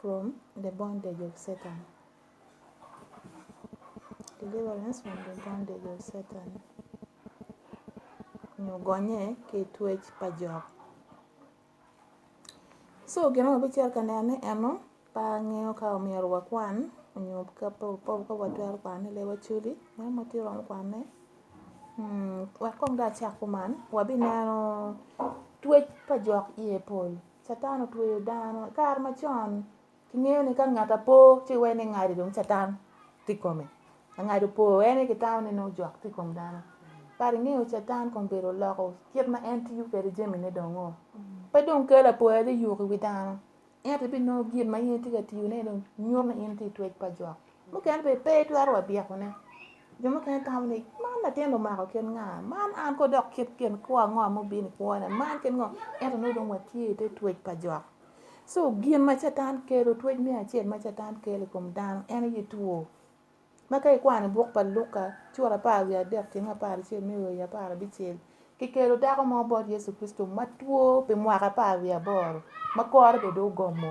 from the bondage of Satan. Deliverance from the bondage of Satan. Nyogonye ke twech pa jok. So gino ma bicer ka nene eno pa ng'eyo ka omyero wakwan onyo ka po ka watwero kwane le waculi ma ma ti rom kwane hmm, wek kong da cak kuman wabineno twec pa jok iye pol Catan otweyo dano i kare macon kingeyo ni ka ngat apo ci iwee ni ngati dong catan tye i kome ka ngat opo iwee ni kitamo ni nongo jok tye i kom dano but ingeyo catan kong bedo oloko kit ma en tiyo kwede jamine dongo pe dong kelo apoya dong yuko i wi dano ento ibinongo gin ma in itye ka tiyone dong nyuto ni in tye i twec pa jok. Mukene be pe itwero wa byekone. Jo mukene tamo ni man latin omako kit nga, man an ko dok kit kin kwo ango ma obin i kwona, man kit ngo. Ento nongo dong watye i te twec pa jok. So gin ma Catan kelo, twec me acel ma Catan kelo i kom dano en aye two. Ma ka ikwano i buk pa Luka cura apar wiye adek ceng apar acel me oyo apar abicel, kikelo dako mo bot Yecu Kricito ma two pi mwaka apar wiye aboro, ma kore bene dong ogomo.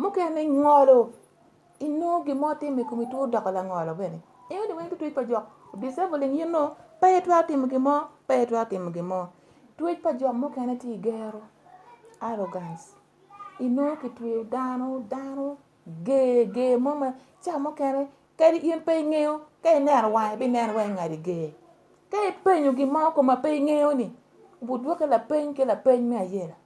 Mukene ngolo inongo gin mo timo i komi two doko langolo bene. Iyudo ni weng tutwec pa jok disabling you know pe itwero timo gin mo pe itwero timo gin mo. Twec pa jok mukene tye i gero arrogance inongo kitweyo dano dano ger ger mo ma ca mukene kadi in pe ingeyo ka ineno wange ibineno wai ngati ger. Ka ipenyo gin mo koma pe ingeyo ni obudwoki lapeny ki lapeny me ayela.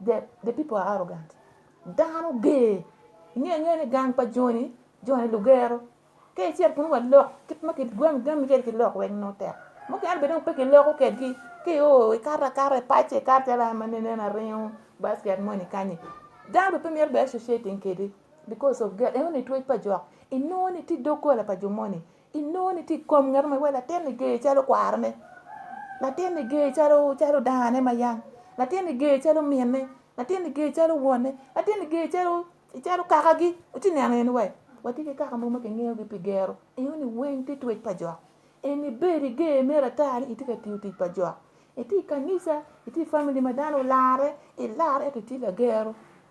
The, the people are arrogant. Dano ger. Inge nge ni gang pa Johnny, Johnny Lugero. Ke cher kun wa lok kit ma kit gwam gam ker ki lok weng no tek. Mo ke albe dong pe ki lok ke ki ke o kara kara pache kara tela ma ne na reo basket money kanye. Dano pe mer be associating kedi because of girl. Ewan ni tuwe pa jok. Ino ni ti dokola pa jomoni. Inoni ti kom ngat ma wala teni ge chalo kwarane. Latini ge chalo chalo dane ma yang. Latini ge chalo minne. Latini ge chalo wonne. Latini ge chalo chalo kakagi. Uti neno en wai. Wati ki kaka mo ma kingeyo gi pi gero. Inoni weng ti twec pa jok. Eni bedi ge me ratar ni iti ka tiyo tic pa jok. Iti kanisa, iti family ma dano olare, ilar eto iti lagero.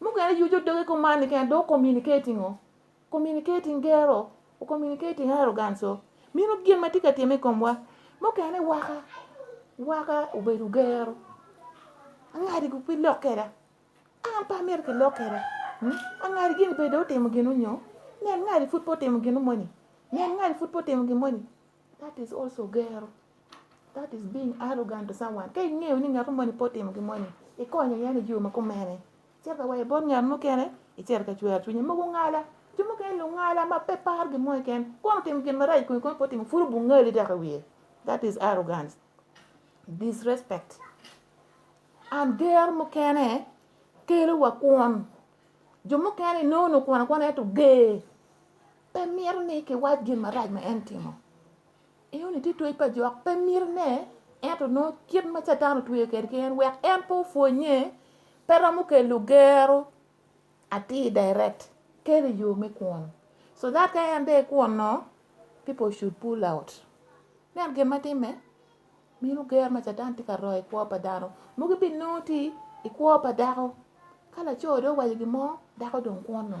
Mungu yani juju doge ko mani kan do communicating o. Communicating gero, o communicating arrogance o. Mino gin ma tika time komwa. Mungu yani waka waka ubedu gero. Angadi ku pi lokera. An pa mer ke lokera. Hmm? Angadi gin pe do timo gino nyo. Nyan ngadi fut po timo gino moni. Nyan ngadi fut po timo gino moni. That is also gero. That is being arrogant to someone. Ka ing'eyo ni ng'at mani po timo gimoni, ikonyo yani jiwo ma kumene. Cer ka waye bon ng'at mukene, icer ka chwer chunye mogo ng'ala. Jo mukene lu ng'ala ma pe par gimoni ken. Kono timo gin marach kwe kono po timo furu bu ng'ali dak i wiye. That is arrogance. Disrespect. An ger mukene kelo wa kwon. Jo mukene nono kwon akwana ento ger. pe mito ni kiwac gin marac ma en timo i oni tye twec pa jok pe mito ne ento nongo kit ma catan otweyo kede ki en wek en pe opwonnye pe romo kelo gero atir direct kelo yo me kwon so that ka en de kwon no people should pull out nen gin ma timme minu ger ma catan tye ka royo i kwo pa dano mugi bi nongo ti i kwo pa dako ka laco do owaco gin mo dako dong kwon no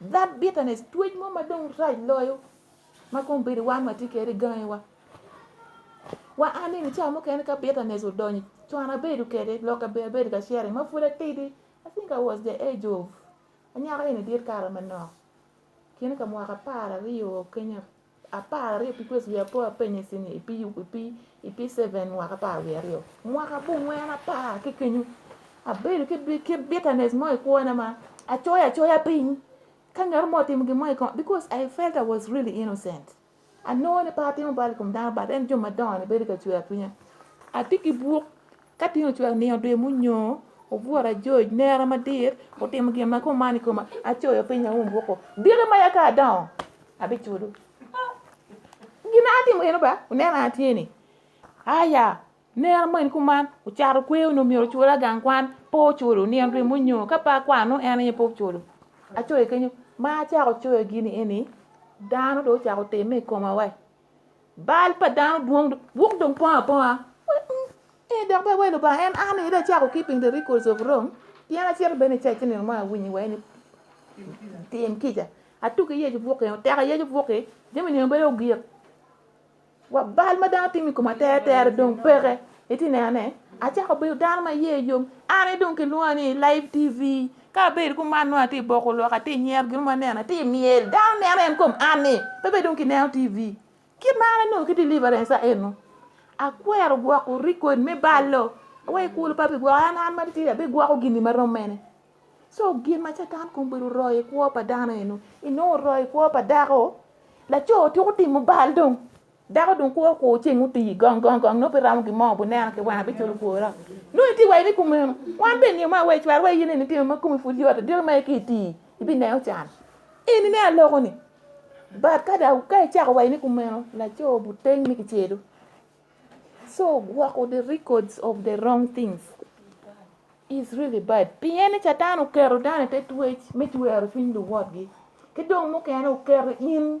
That bitterness, twec mo ma dong rac loyo ma kong bedo wan ma tye kede gangi wa. Wa an ni ca mukene ka bitterness odonyo, cwana bedo kede, loka bedo ka sharing ma pud atidi. I think I was the age of anyaka eni dit kara manok. Kine ka mwaka apar aryo kenya apar aryo pi kwezi wiye apo apenye ci ni ipi ipi ipi seven mwaka apar wiye aryo mwaka abongwen apar ki kenyo abedo ki bi- ki bitterness mo i kwona ma acoyo acoya piny ka ngat mo otimo gin mo i koma because I felt I was really innocent anongo ni pe atimo bal i kom dano but en jo madongo ni bedo ka cwer cwinya atye ki bwok Ka tin ocwero ni odwe munyoo obworo ajoj nera madit otimo gin ma kumani kuma acoyo piny aum woko dire ma yaka adongo abicudo gin atimo eno ba uneno atyeni aya nera mo en kuman ocato kweyo ni omyero ocul agang kwan po oculo ni en dwe munyoo ka pa kwano en aye po oculo acoyo kenyo ma acako coyo gini eni dano do ocako time i koma wai bal pa dano dwong dwong dong pongo aponga e dok be welo ba en an ida chako keeping the records of wrong pien acel bene ca chineno ma awinyi wai ni tim kica atuki yecu buki oteka yecu buki jami nio bedo ogik wa bal ma dano timi kuma tere tere dong peke iti nene acako bedo dano ma ye yom an idong kilwonga ni live tv Ka abedo ku man nongo atye i boko lok, atye i nyero gin mo aneno, atye i myel, dano neno en kom anni, pe bed dong kineno TV. Kit ma an anongo ki deliverance aeno, akwero gwoko record me ballo, aweyo kulu pa bigwoko, an an ma titidi abigwoko gini ma rom mene. So gin ma Catan kong bedo oroyo i kwo pa dano eno, inongo oroyo i kwo pa dako, laco tuko timo bal dong. Dako dong kwo kwo ceng oti gong gong gong nope ramo gi moo buneno ki wana biculo kwora. No iti wai ni kumeno. Wan ben ni ma wai chwar wai yini ni timo ma kumi ful yota diro ma ki iti. Ibi neo chan. Ini ne aloko ni. But kada ka ichako wai ni kumeno la cho buteng ni kichedo. So wako the records of the wrong things is really bad. Pien ni chatan okero dane te twech me chwero cwiny luwotgi. Ki dong mukene okero in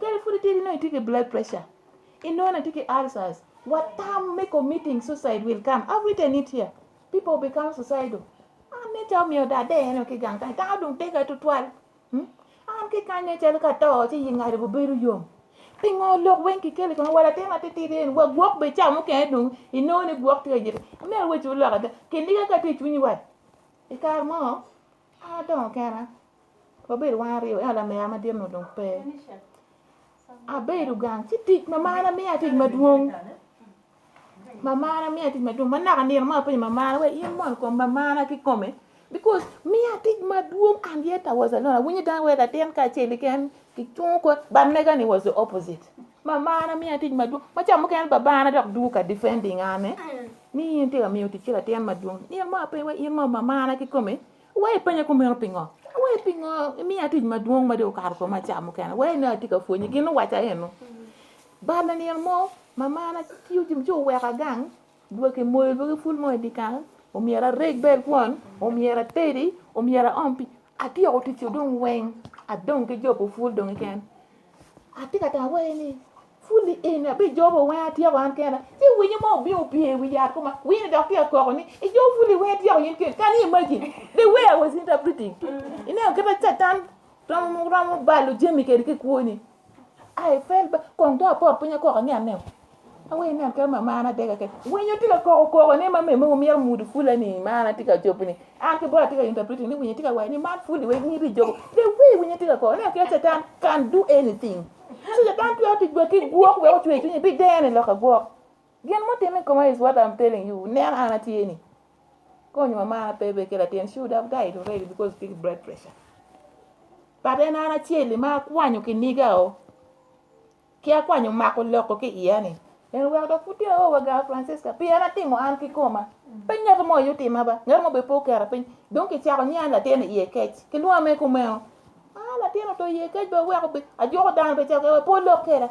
Kare fudi tiri no itike blood pressure. Inona tike ulcers. What time make a meeting suicide will come. I've written it here. People become suicidal. I'm not telling you that day, you know, kigang kang tao dung tega to twal. Hmm? I'm kigang ne chal ka tao chi yingari bu beru yom. Pingo lok wen ki kele kono wala tema titi den wa gwok be cha mu ken dung ino ne gwok tega jir. Me we chu lok ada. Kendi ka ka ti chunyi wat. Ikar mo. Adongo kena. Wabedo wan aryo ela mea madit no dong pe. Abedo gang ci tic ma mana miya tic madwong. Ma mana miya tic madwong. Ma naka nino ma apenyo ma mana we in mon kom ma mana ki kome. Because miya tic madwong and yet I was alone. Awinyo dang we latin kacel ken ki chung ko but mega ni was the opposite. Mamana miya tic madwong. Macam mukene babana dok duka defending ane. Ni in tye ka miyo tic ki latin madwong. Ni in mo ape wa in mo mamana ki kome. Wa ipenya kumeno pingo. Wa ipingo miya tic madwong ma dong okato koma cam mukene. Wa ino ati ka fwenyi gin waca eno. Bana ni in mo mamana tiyo jim ci oweka gang. Dwa ki moyo dwa ki ful mo i dikal. Omyera reg bel kwon. Omyera tedi. Omyera om pi Atye woko tic odong weng adong ki jobo pul dong keken. Atye ka tamo wai ni pul ni eni abi jobo weng atyeko an kena. Ci winyo mo obi opye i wi yat kuma winy dok tye koko ni i jobo pul i weng atyeko yin ken. Can you imagine the way I was interpreting? Ineno kita catan romo romo balo jami kedi ki kwoni. I felt bad. Kong to apor piny kok ang'e aneo. Awe ne ka ma mana dega ke. Winyo tika koko koko ne ma me mo mier mudu fula ni mana tika chopo ni. An ke bora tika interpret ni winyo tika wai ni man fuli we ni ri jogo. The way winyo tika koko ne ke satan can do anything. So satan tu ati gwe ki gwok we ochwe chunyi bi dene loka gwok. Gin mutimo i koma is what I'm telling you. Ne an atie ni. Konyo mama bebe kila tin. She would have died already because of big blood pressure. But en an achieli ma akwanyo kiniga o. Ki akwanyo mako loko ki iya ni. En wa ka kuti o wa ga Francisca. Pi an atimo an ki koma. Pe ngat mo yutima ba. Ngat mo be po kera piny. Dong ki chako ni an latin iye kech. Ki lwame kumeo. Ah, latin oto ye kec be weko be ajoko dano be cake we po lok keda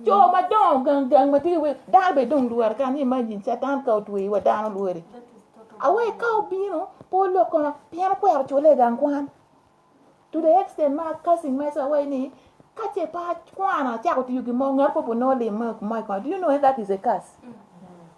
jo madongo gang gang ma tye we dano be dong lwar kan ni imagine satan ka otwe wa dano lwari awe ka obino po lok kono pien okwero cule gang kwan to the extent ma cousin mesa away ni kache pa kwana chako tiyo gi mo ngat po po no lim ma ma ko do you know that is a curse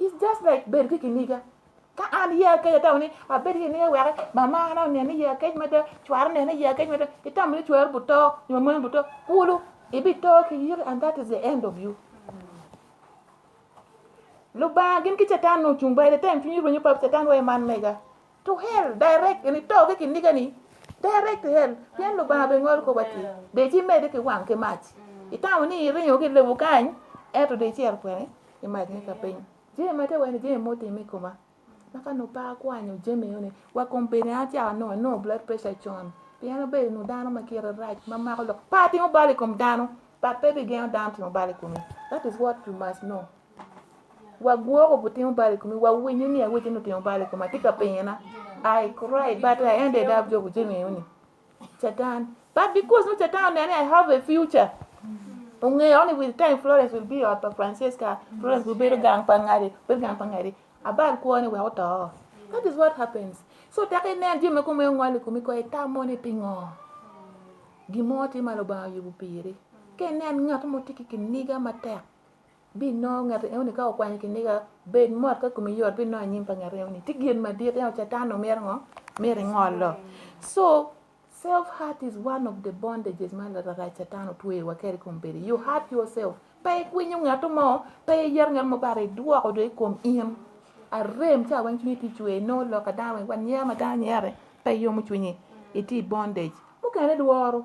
It's just like bed ki kiniga. Ka an ya ke ta ni a bed ki ne wa mama na ne ni ya ke ma da chwar ne ni ya ke ma da itam ni chwar buto ni mo buto pulu ibi to ki yir and that is the end of you. Lu ba gin ki chatan no chung ba de tem fini ro ni pap chatan wa man mega. to hell direct ni to ke kindiga ni direct to hell pien lo ba be ngol ko bati de chi me de ke wan ke mach itawo ni irinyo ke lebu kany eto de chi er kwene i mach ni ka piny je ma te wen je mo timi kuma maka no pa kwanyo je me yone wa kompeni acha no no blood pressure chon pien be no dano ma kira raj ma mako lok pa timo bali kom dano but baby gen dano timo bali kumi that is what you must know wagwoko butimo bal i kome wawinyo ni aweche ni otimo bal i kome atye ka pinyona i cry but i ended up jogo jeng'eyo ni satan but because no satan onene i have a future ong'eyo ni with time florence will be ot pa francesca florence will bedo gang pa ng'adi bedo gang pa ng'adi abal kwoni wek oto that is what happens so taka inen jami kome ong'ol i kome ko itamo ni pingo gimo ti malo ba yubu piri ke nen ngat mo ti ki kiniga matek Binongo ngat eno ni ka okwanyo kiniga bed mot ka kumi yot binongo anyim pa ngat eno ni. Ti gin madit eno catan omero ngo? Meri ngolo. So self heart is one of the bondages ma rara catan otweyo wa kere kom bedi. You heart yourself. Pa ikwinyo ngat mo, pa iyero ngat mo bare idwoko do ikom in. Arem cha wang chunyi ti chwe no lo ka dang wang nyer ma dang nyere pa iyomo chunyi. Iti bondage. Mukene dworo.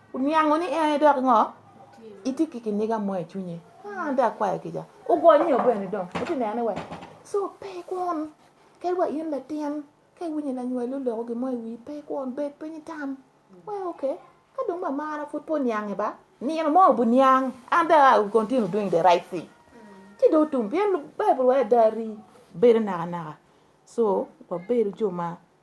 Uniango ni en dok ngo? Iti ki kiniga mo i cwinye. Ah, da kwayo kica. Ugonyo nyo bene dong. Uti nene we. So, pe kwon. Ke wa in latin. Ke winyi na nywelo loko gimo i wi. Pe kwon. Bed piny tam. We, okay. Ka dong ma mara fut po niange ba. Nino mo bu niang. And then I will continue doing the right thing. Ti do tum. Bien Bible wa dari. Bedo naka naka. So, wa bedo jo ma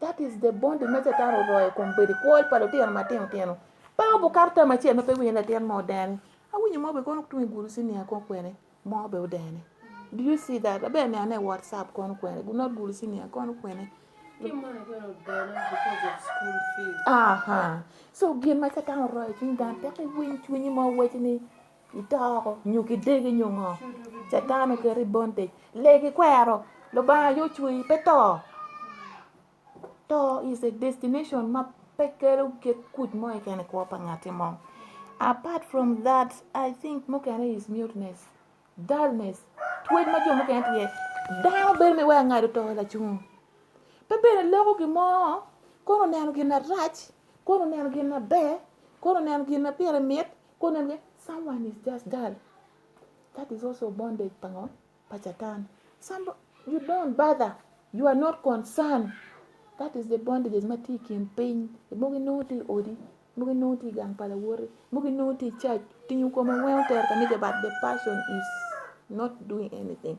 That is the bond ma Satan oroyo kom bedi kwol pa lutino matino tino. Pa obukato tam acel ma pe winyo latin mo den. Awinyo mo be kono tung iguru sinia kon kwene. Mo be odene. Do you see that? Abe ne ane WhatsApp kon kwene. Gu not guru sinia kon kwene. Aha. So gin ma Satan oroyo cwiny dan tek iwiny cwinyi ma owachi ni itoko nyo kidegi nyo ngo catan oketi i bondage lee gikwero lubanga aye ocwei pe to to is a destination ma pe kelo kit kuc mo keken i kwo pa ngati mo apart from that i think mukene is muteness dullness twec ma jo mukene tye dano bedo me waya ngado to lacung pe bene loko gin mo kono neno gin arac kono neno gin maber kono neno gin ma pire mit Ko nan ge, someone is just dull. That is also bondage pango pachatan. Some you don't bother. You are not concerned. That is the bondages ma ti kin piny. Mogi nongo ti odi. Mogi nongo ti gang pala wori. Mogi nongo ti church. Tinyo koma well ter kanike but the person is not doing anything.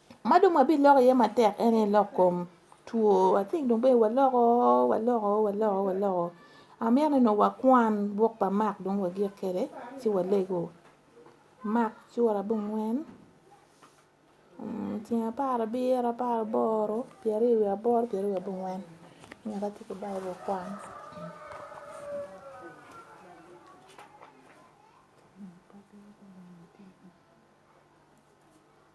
Ma dong wabiloko iye matek en aye lok kom two, I think dong bene waloko waloko waloko waloko amito ni dong wakwan buk pa Mak dong wagik kwede ci walego Mak cura abongwen mm, ceng apar abiro apar aboro pyeraryo wiye aboro pyeraryo wiye abongwen nyaka ci ki Baibul kwan.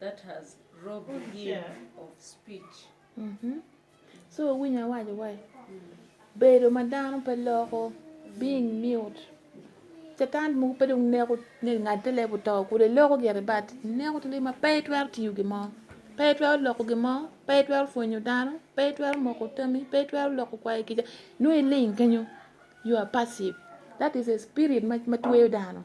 that has robbed him of speech. Mm -hmm. So winy awaco wai bedo ma dano pe loko being mute catan mogo pe dong neko ni ngat te lebo to kude loko gire bat neko tili ma pe twero tiyo gimo pe twero loko gimo pe twero fwenyo dano pe twero moko tami pe twero loko kwayo kica nwe iling kenyo you are passive that is a spirit ma tweyo dano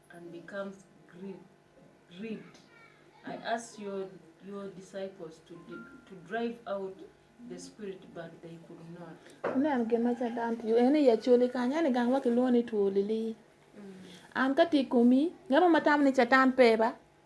and becomes grieved. I asked your, your disciples to, to drive out the spirit but they could not. Unan gima cha dam pi en ya choli ka nyane gang wa kiloni tuolili. Mm. An ka ti kumi ngama matam ni chatan peba.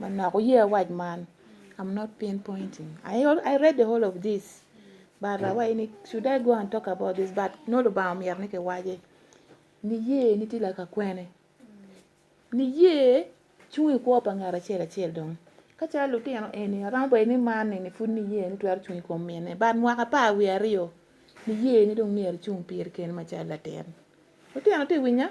Manok oye wac man. I'm not pinpointing. I, I read the whole of this. But uh, wait, should I go and talk about this? But no lubang mi yarne ke waje. Ni ye ni tila ka kwene. Ni ye chungi kwa pa ngara chela chel dong. Kacha luti ano eni arambo eni mani ni fun ni ye ni tuwar chungi kwa mene. But mwaka pa we ario. Ni ye ni dong ni yar chung pir ken machala ten. Luti ano te winya?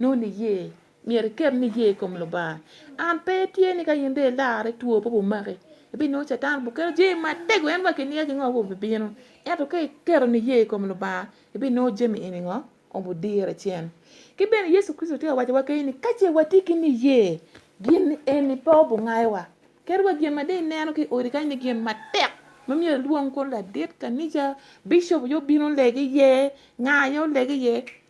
Nongo iye, myero iket niye i kom Lubanga. An pe tye ni ka in dong ilarre two pe omaki, ibinongo Catan oketo jami matego en wa kiniya ki ngo aye obibino. Ento ka iketo niye i kom Lubanga, ibinongo jami eni ngo obidire cen. Ki bene Yecu Kricito tye ka wacowa keni ni ka ce watye ki niye, gin eni pe obingayowa. Kadi wa gin ma dong ineno ki i odi kany ni gin matek ma myero ilwong kong ladit kanica, bicop aye obin oleg iye, nga aye oleg iye,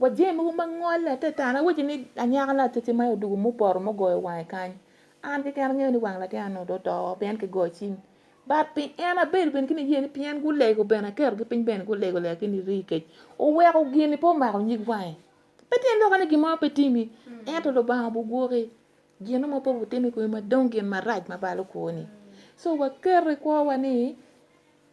Wa jami mogo ma ngolle te tana awaci ni anyaka lacece ma odugo mupoto mugoyo wange kany an keken angeyo ni wang latin anu do to pien ki goyo cing bat pi en abedo bene kini yeni pien gulego bene akero gi piny bene gulego lego kini ri kec oweko gini po mako nyig wange pe tien loko ni gimo pe timi mm. ento lubanga bugwoki gino mo po butimi kwe ma dong gin marac ma balo kwoni so wakeri kwowa ni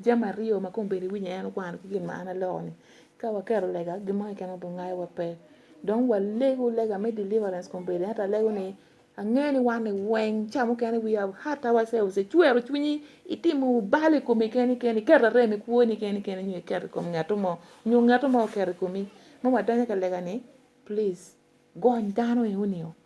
Jam aryo ma kombeddi winyo en wan ki gin ma an alokoni, ka waketo lega gin mo keken obin ngayowa pe. Dong walego lega me deliverance kombeddi ento alego ni angeyo ni wan ni weng ca mukene we have hurt ourselves icwero cwinyi itimo bal i komi keni keni iketo rem i kwoni keni keni nyo iketo i kom ngato mo nyo ngato mo oketo i komi ma wadonyo ka lega ni please gony dano enoni o.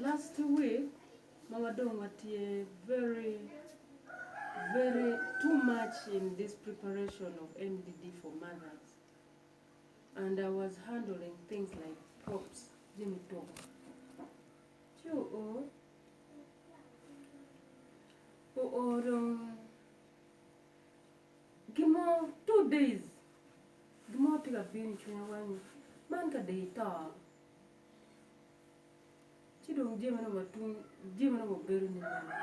Last week ma wadong' watie very very too much in this preparation of MDD for mothers and I was handling things like props Jimmy Talk. Choo oh. Oh, oh, um, gimo two days gimo tiga bin chunya wani man ka dei to Ci dong jami ma nongo atum, jami ma nongo obedo ni mene.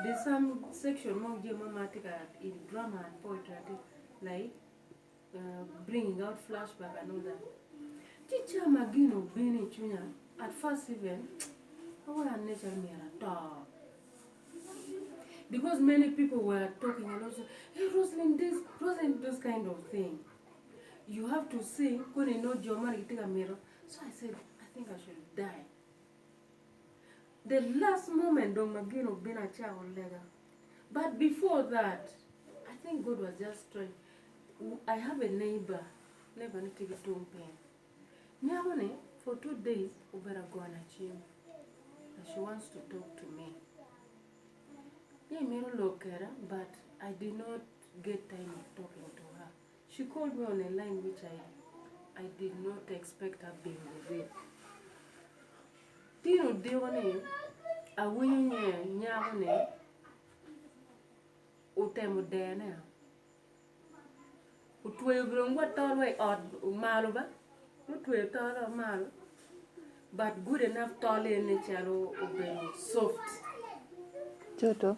There's some section mo jami mo ma tye ka in drama and poetry ati like uh, bringing out flashback and all that. Ci ca ma gino obino i cwinya at first even awara ne cal myero ato. Because many people were talking a lot, hey Rosalind this, Rosalind those kind of thing. You have to see koro ino joma nigitiga miro. So I said, I think I should die. The last moment dong magino bin acha olega. But before that, I think God was just trying. I have a neighbor, neighbor ni tigi tung pen. Nyako ni for two days ubera gona chiemo. And she wants to talk to me. Ye miro lokera but I did not get time of talking to her. She called me on a line which I, I did not expect her being with. Tino deko ni awinyo nye nyako ni utemo dene utweyo bilongwa tolwa i ot malo ba utweyo tolwa malo but good enough tol ene calo obedo soft Choto.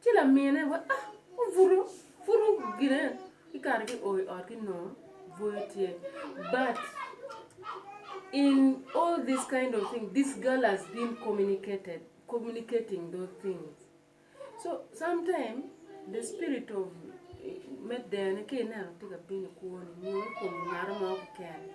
ci la miine ba ah furu furu gine i kar ki oi ot ki nongo boyo tye but in all this kind of thing this girl has been communicated communicating those things so sometimes the spirit of eh, med dene ki ineno tye ka bino kwoni nyo i kom ngaro ma okikene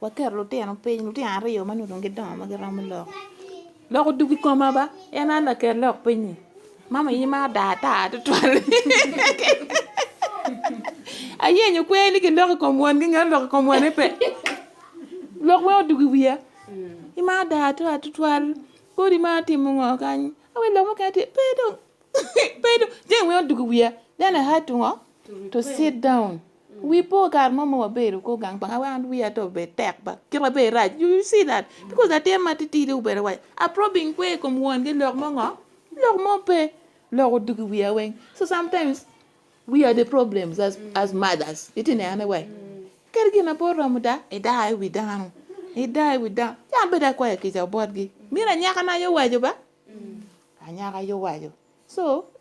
Waketo lutino piny, lutino aryo ma nongo dong gidongo ma giromo lok. Lok odug i koma ba, en an laket lok piny-nyi. Mama in imaro daa ata tutwal. Ayenyo kweri ni gilok i kom wangi, ngat olok i kom wane pe. Lok weng odug i wiya. Imaro daa ata tutwal. Kodi imaro timo ngo kany? Awe lok mukene tye, pe dong. Pe dong. Jami weng odug i wiya. Then I had to ngo? To sit down. We po kare mo ma wabedo kor gang pa nga wan wiya to be tek ba kit ma be rac you see that because latin ma titidi obedo waco aprobing kwe i kom won gi lok mo ngo lok mo pe lok odugi wiya weng so sometimes we are the problems as, as mothers iti nene wai kadi gin na po romo da idaa i wi dano idaa i wi dano yan bed akwaya kica botgi mira nyaka na yo waco ba anyaka yo waco so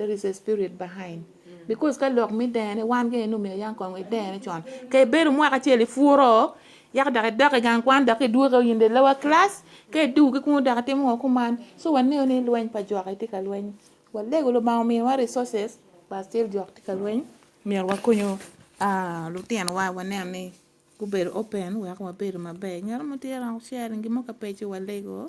There is a spirit behind. Because ka lok mi dene wan ke nu me yang kong dene chon. Ke beru mwaka cheli furo yak dak dok gang kwan dok idwe ka yinde lower class ke du ki kun dak timo ngo kuman. So wan ne ni lweny pa jwak iti ka lweny. Wan lego lo ma omiyo wa resources pa still jwak ti ka lweny. Miyo wa konyo ah lutino wa wan ne ni gubedo open wek wabedo maber. Ngero mo tira sharing gimo ka peci wa lego.